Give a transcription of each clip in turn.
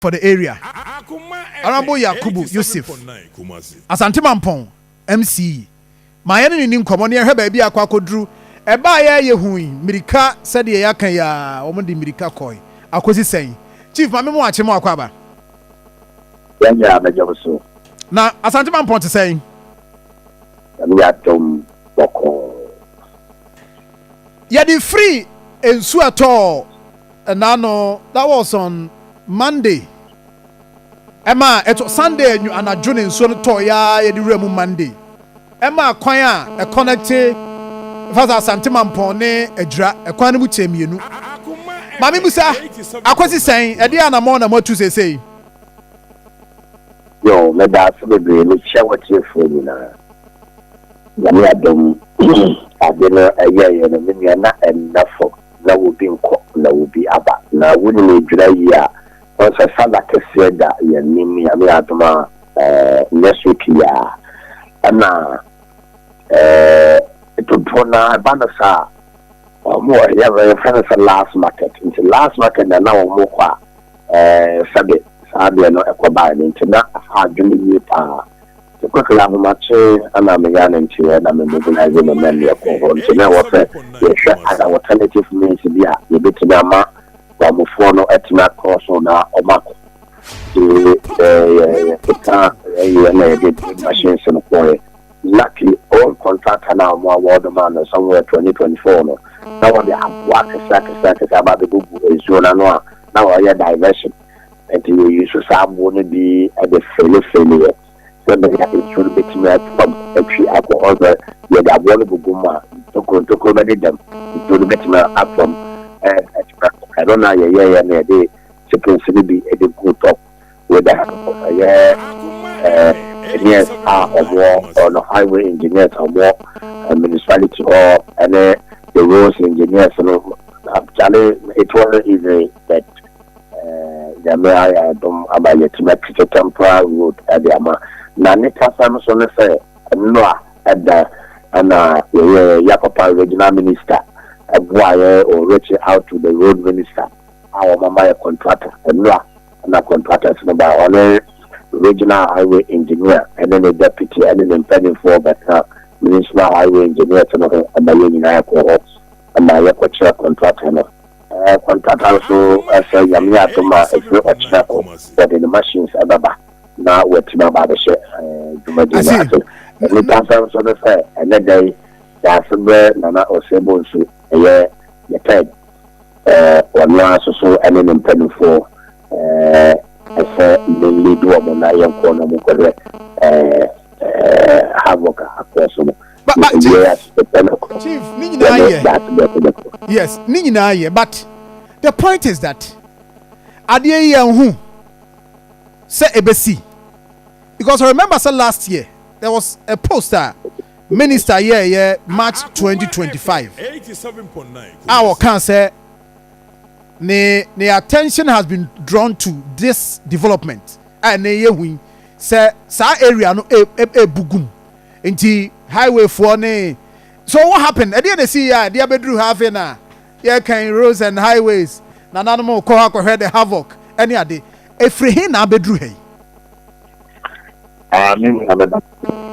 for the area, Honourable Yakubu Yusuf, Asante Mampong MC, ma yɛne no nni nkɔmmɔ na yɛhwɛ baabi a akɔ akɔduru. Ɛbaeɛ a yɛhui mmirika sɛdeɛ yɛaka yi ara, wɔde mmirika kɔe akɔsi sɛn? Chief, Maame mo akye mo akɔ aba. Yɛn nyinaa bɛgye wo so. Na Asante Mampong te sɛn? Nyame adom bɔkɔɔ. Yɛde firi nsu a ɛtɔɔ ɛnaano that was on Monday ɛma ɛtɔ Sunday anwu anadwo na nsuo no tɔɔ yaa yɛde wura mu Monday ɛma kwan a ɛkɔnɛkte ɛfa sɛ Asante Mampɔn ne Agyira ɛkwan no mu kyɛɛ mmienu maame mu sa akɔsi sɛn ɛde anamɔn na mo atu seesei. Yo, meda ase bebree. Mekyia w'atiefoɔ nyinaa. Nyame adom ade no ɛyɛeɛ no me nua na ɛnna fam na wobi nkɔ na wobi aba na wonim ɛdwira yie a wohu sɛ sala kɛseɛ da yɛn anim Nyame adom a nyɛ so pii a ɛna dodoɔ no ara ɛba no saa a wɔn wɔ yɛfrɛ no sɛ last market nti last market na na wɔn kɔ a sɛbe saa deɛ no ɛkɔ baeɛ no nti na afa adwene yie paa Nokwasɛm no, ahomakye na meyɛ a na nkyerɛ na me mobilise me mma mmea kɔ hɔ. Nti na ɛwɔ sɛ yɛhwɛ other alternative means bi a yɛbɛtumi ama Bamfoɔ no atumi akɔ so na wɔakɔ. Nti yɛkeka yɛeɛ na yɛde drilling machines no kɔeɛ. Luckily own contractor no a wɔn award maa no somewhere 2024 no, na wɔde aboa akɛseɛ akɛseɛ akɛseɛ aba abɛgugu nsuo no ano a na wɔreyɛ diversion. Enti woyii so saa aboɔ no bi de feelefeeleeɛ sɛ bɛnya nsuo no bɛtumi ato fam atwi akɔ hɔ sɛ yɛde aboɔ no gugu mu a ntokuro ntokuro bɛdedam, nsuo no bɛtumi ato fam atwi akɔ. Ɛno na yɛyɛeɛ na yɛde chickens no bi de guu top with a ɛyɛ engineers a wɔwɔ ɔno highway engineers a wɔwɔ municipality hɔ ne the roads engineers no, Charlie it wasn't easy but Nyame ayɛ adom ama yɛatumi akyekyɛ Temporal Road de ama. Na ne kasa no so ne sɛ, Nnora da na yɛyɛ Yah Papa Regional Minister boa yɛ o reaching out to the Road Minister a wɔama yɛ contractor. Nnora na contractors no bae, ɔne Regional Highway Engineer ne ne Deputy ne ne mpaninfoɔ bɛka Municipal Highway Engineers no ho ma yɛn nyinaa kɔɔ hɔ ma yɛkɔkyerɛ contractor no. Kwantata nso sɛ Nyame yɛ adom a ɛfiri ɔkyena kɔ wɔde ne machines ɛbɛba na watumi aba abɛhyɛ dwumadie no ase. Nnipa sɛm nso ne sɛ ɛnɛ da yi yɛase brɛ Nana Osei Bonsu ɛyɛ the third ɔno ara nso so ɛne ne mpaninfoɔ ɛsɛ mmɛnni de wɔn na yɛnkoɔ na wɔn kɔhwɛ havoc akɔɔ so no. but but chief chief ne nyinaa yɛ yes ne nyinaa yɛ but the point is that adeɛ yi yɛn ho sɛ ebesi because I remember sɛ last year there was a post a minister yɛ yɛ March twenty twenty five a wɔka sɛ ne ne attention has been drawn to this development a ne yɛ hu yi sɛ saa area no ebugum. E, e, e Nti highway foɔ ne so what happened ɛdeɛ na ɛsii yɛ a ɛde abɛduru ha afei na yɛkan roads and highways nananom kɔ hɔ akɔhwɛ the havoc ɛne ade ɛfiri he na abɛduru ha yi. Ah, me nua meda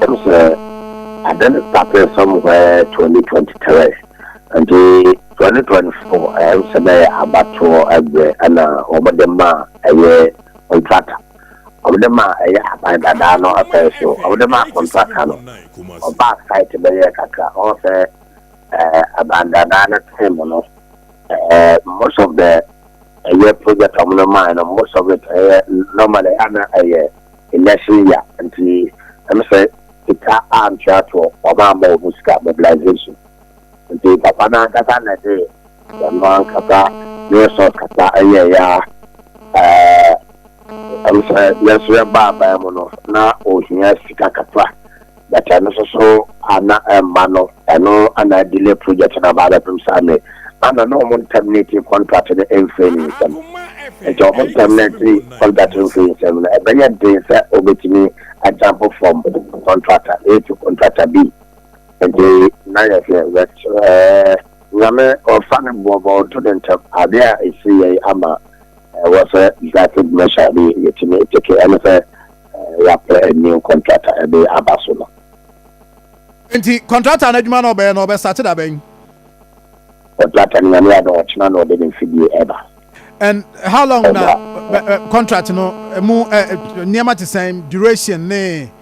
ɛm sɛ ade no started somewhere 2023 nti 2024 ɛm sɛ bɛyɛ abatoɔ ɛberɛ ɛna wɔde ma ɛyɛ contractor Wɔde maa ɛyɛ aban dadaa no afɛɛ so. Wɔde maa kɔntraka no. Ɔbaa site bɛyɛɛ kakra. Ɔho sɛ ɛɛ aban dadaa no time no ɛɛ most of the ɛyɛ project a wɔde maa no most of it ɛyɛ normally a na ɛyɛ election year nti ɛm sɛ sika antoatoɔ wɔn ammɔ wɔn sika mobilization. Ntsi Papa no ankasa na dze dɛm ankasa ne sor kasa yɛe a, ɔno sɛ yɛserɛ ba aban mu no na ohia sika kakra, but ɛno so so a na mma no, ɛno na adelay project no aba abɛpem sɛ ame a na na ɔmo nntɛminetee kɔntrat no mmfri ne nsam. Ntsi ɔmo ntɛminetee kɔntrat no fri nsam no, ɛbɛyɛ dzen sɛ obetumi ajamp from kɔntrata A to kɔntrata B. Ntsi na yɛ hwɛ yɛserɛ Nyame ɔfa no bo ma ɔnto do ntsɛm. Ade a esii yɛ yi ama wɔ sɛ decisive measure bi yetumi eteke, ɛne sɛ yɛapɛ a new contractor de aba so no. Ntsi contractor no edwuma na ɔbɛyɛ no ɔbɛstarte da bɛn? Contractor no Nyame adom ɔkyena na ɔde ne mfidie ɛba. And how long na contract no mu nneɛma te sɛn, duration ne.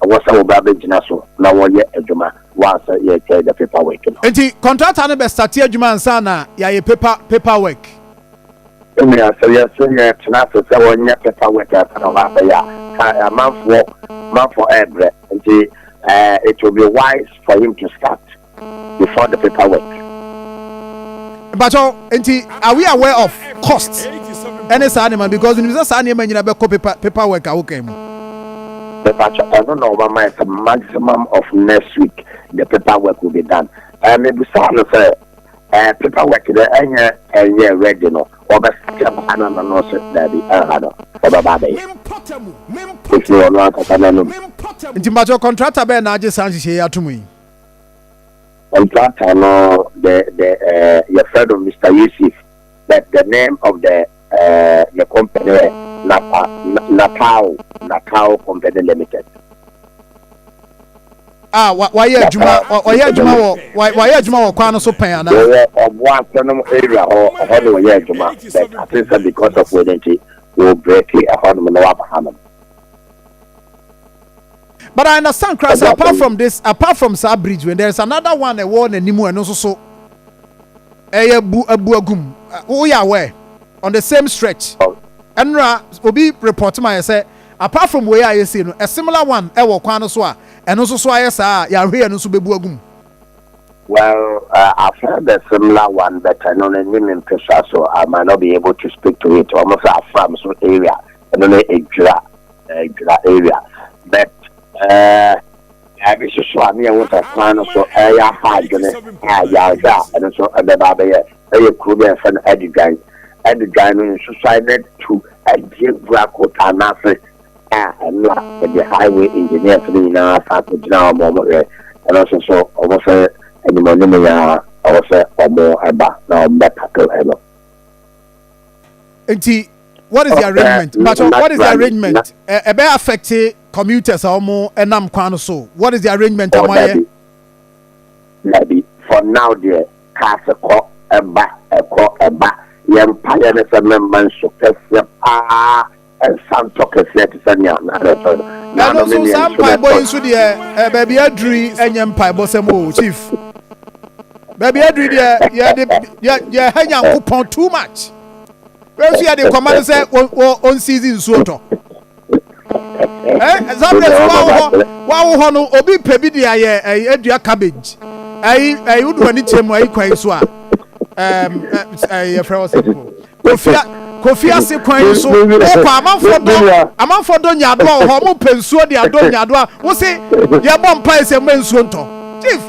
Ɛwɔ sɛ wɔba bɛgyina so na wɔyɛ adwuma wa sɛ yɛretwɛn the paper work no. Nti contractor no bɛ starte adwuma ansa na yɛayɛ paper paper work? Me nua, sɛ yɛse yɛretena ase sɛ wɔnyɛ paper work ansa na wɔba abɛyɛ a, ka amanfoɔ manfoɔ ɛrebrɛ. Nti eh, it will be wise for him to start. before the paper work. Mpakyɛw, nti are we aware of cost ɛne saa nneɛma because nim sɛ saa nneɛma nyina bɛkɔ paper paper work a wokan mu. Mpakyɛw, ɛno na ɔma ma ɛsɛ maximum of next week the paper work will be done. Ɛɛ mebusaa no sɛ ɛɛ paper work dɛ ɛnyɛ ɛnyɛ ready no ɔbɛsɛ baa na no no sɛ daabi ɛha no ɔbɛba abɛyɛ. Ɛfiri ɔno ankasa n'anum. Nti mpakyɛw contractor bɛyɛ na agye saa nhyehyɛ yi ato mu yi. Contractor no the the eh, yɛfrɛ no Mister Yusuf the the name of the eh, the company yɛ Napa Na- Napao Napao Company Limited. a wa- wayɛ adwuma Napao wa- wayɛ adwuma wɔ wa- wayɛ adwuma wɔ kwan no so pɛn anaa Wɔwɔ Ɔboase nom area hɔ ɛhɔ na wɔyɛ adwuma but I think sɛ because of wei no nti wɔ break ɛhɔ nom na waba ha nom. But I understand koraa sɛ apart from this apart from saa bridge when there is another one ɛwɔ n'anim ɛno nso so ɛyɛ bu abu agum woyɛ aware on the same stretch ɛnora obi report ma yɛ sɛ apart from wei a yɛsei no a similar one ɛwɔ kwan no so a ɛno nso so ayɛ saa a yɛahwɛ yɛ no nso bɛbu agum Well, uh, I've heard a similar one, but I don't know in Pesa, so I might not be able to speak to it. Almost a farm so area, and then a jura, Ɛdwira area but ɛɛ ɛbi soso a ne ɛwɔ sɛ kwan no so ɛyɛ afa adwene a yɛanhwɛ a ɛno nso ɛbɛba abɛyɛ ɛyɛ kuro bi a yɛfrɛ no Adidwan Adidwan no nsusuae no atu adie gura kota no ase a ɛno a ɛde highway engineers no nyinaa san kɔ gyina hɔ ma wɔn hwɛ ɛno nso so wɔn sɛ animɔnim yɛ a ɛwɔ sɛ wɔn ɛba na wɔn bɛtackle ɛno. nti what is the arrangement but what is the arrangement ɛbɛ eh, eh, affect commuters a wɔn ɛnam kwan no so what is the arrangement a wɔn ayɛ. dabi for now deɛ cars kɔ ɛba ɛkɔ ɛba yɛn mpa yɛn ne sɛ mɛmma nso kɛseɛ paa Nsa ntɔ kɛseɛ te sɛ nea na ɛretɔ no. Na ɛno nso saa mpaebɔ yi nso deɛ eh, baabi aduru yi ɛnyɛ mpaebɔ sɛm o chief. Baabi aduru yi deɛ yɛde yɛ yɛ ha Nyankopɔn too much. Wei nso yɛde kɔma no sɛ ɔnsiizi nsuo tɔ. Eh, Zabres wawo hɔ wawo hɔ no obi pɛ bi de ayɛ ɛyi eh, adua cabbage ɛyi ɛyi wodo ani kyɛ mu ɛyi kwan so a ɛɛ ɛɛ yɛfrɛ wɔ sɛ. Kofia kofia se kwan yi so wokɔ amanfoɔ dɔ amanfoɔ dɔ nyaadoa wɔ hɔ ɔmo pɛ nsuo de adɔ nyaadoa wo se yɛbɔ mpae sɛ mma nsuo ntɔ chief.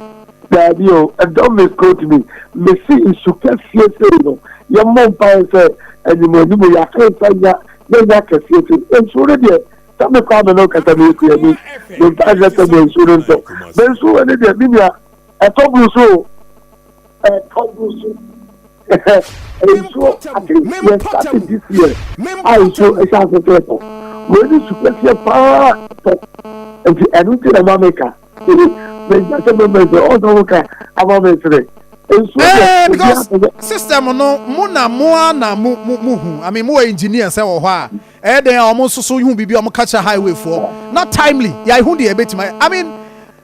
Daabi o ɛdɔ me scrot me me se nsu kɛseɛ sei no yɛmmɔ mpae sɛ anim anim yɛaka nsa nya yɛnya kɛseɛ sei nsuo no deɛ sɛ me kɔ ame no kasa me yɛ kuani me mpae sɛ sɛ mma nsuo no ntɔ me nsuo wɔ ne deɛ me nua ɛtɔ brusu o. nsuo ate yɛ start this year a nsuo ɛhyɛ ase sɛ tɔ wei ne su kɛseɛ paa tɔ nti ɛno nti na ma meka mɛgya sɛ mɛmɛsɛ ɔsɛ wo ka ama mɛsrɛ nsuo yɛ because system no mo na mo a na mo mo mo hu i mean mo wɔ engineer sɛ wɔ hɔ a ɛyɛ dɛn a wɔn nso so hu biribi a wɔn ka kyerɛ highway foɔ na timely yɛ ehu deɛ ɛbɛtumi i mean.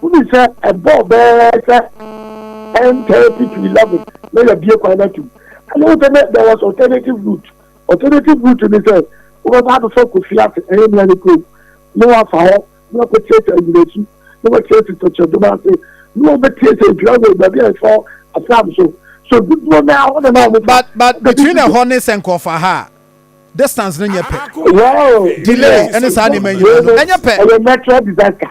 Wohui sɛ ɛbɔɔ bɛyɛ sɛ ten thirty to eleven na yɛabue kwan no atom. Ɛnna wohu sɛ na there was alternative route. Alternative route ne sɛ wobɛba abɛfa Kofi ase, ɛyɛ Nuane kurom, na woafa hɔ na woakɔtie sɛ Anyinasu, na woatie sɛ Tɔkyerɛdom ase, na wɔbɛtie sɛ Adwira Road, baabi a ɛsɔ Afram so. So dodoɔ no ara hɔ na na wɔfa. But but between ɛhɔ ne sɛ nkɔɔfa ha a, distance no nyɛ pɛ. Well, Delay ne saa nneɛma nyinaa no, ɛnyɛ pɛ. Ɛyɛ natural disaster.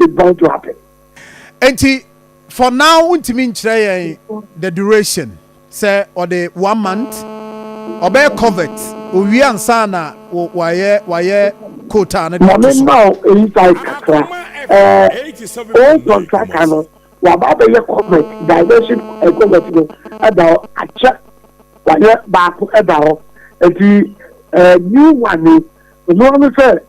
is bound to happen. Enti for now wontumi nkyerɛ yɛn the duration sɛ ɔde one month ɔbɛyɛ covert owie ansa na wayɛ wayɛ quota no de ato so. Maame ma o eyi side kakra ɛɛ o contractor no waba abɛyɛ covert diversion ɛ eh, covert no ɛda hɔ akyɛ wayɛ baako ɛda hɔ eti ɛɛ eh, new one no ɔno ano sɛ.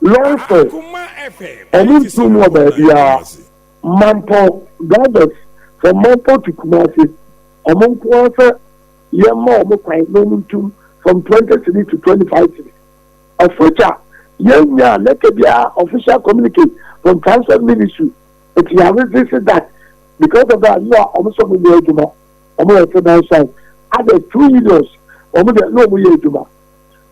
Longford, ɔmo ntuom wɔ baabiara, Mampɔ drivers from Mampɔ to Kumasi, ɔmo nko ara sɛ yɛmma ɔmo kwan na ɔmo ntum from twenty cedis to twenty five cedis, of which a yɛn nyaa lɛtɛ biara official communicate from transport ministry, it ya resist that because of that no a ɔmo sɛ ɔmo nyɛ adwuma, ɔmo yɛ sedan strike, others two unions ɔmo deɛ na ɔmo yɛ adwuma.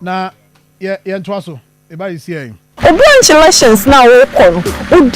Na yɛ yɛntoa so. Eba yi siɛn. Obi a nkyelations no a wokɔ no odi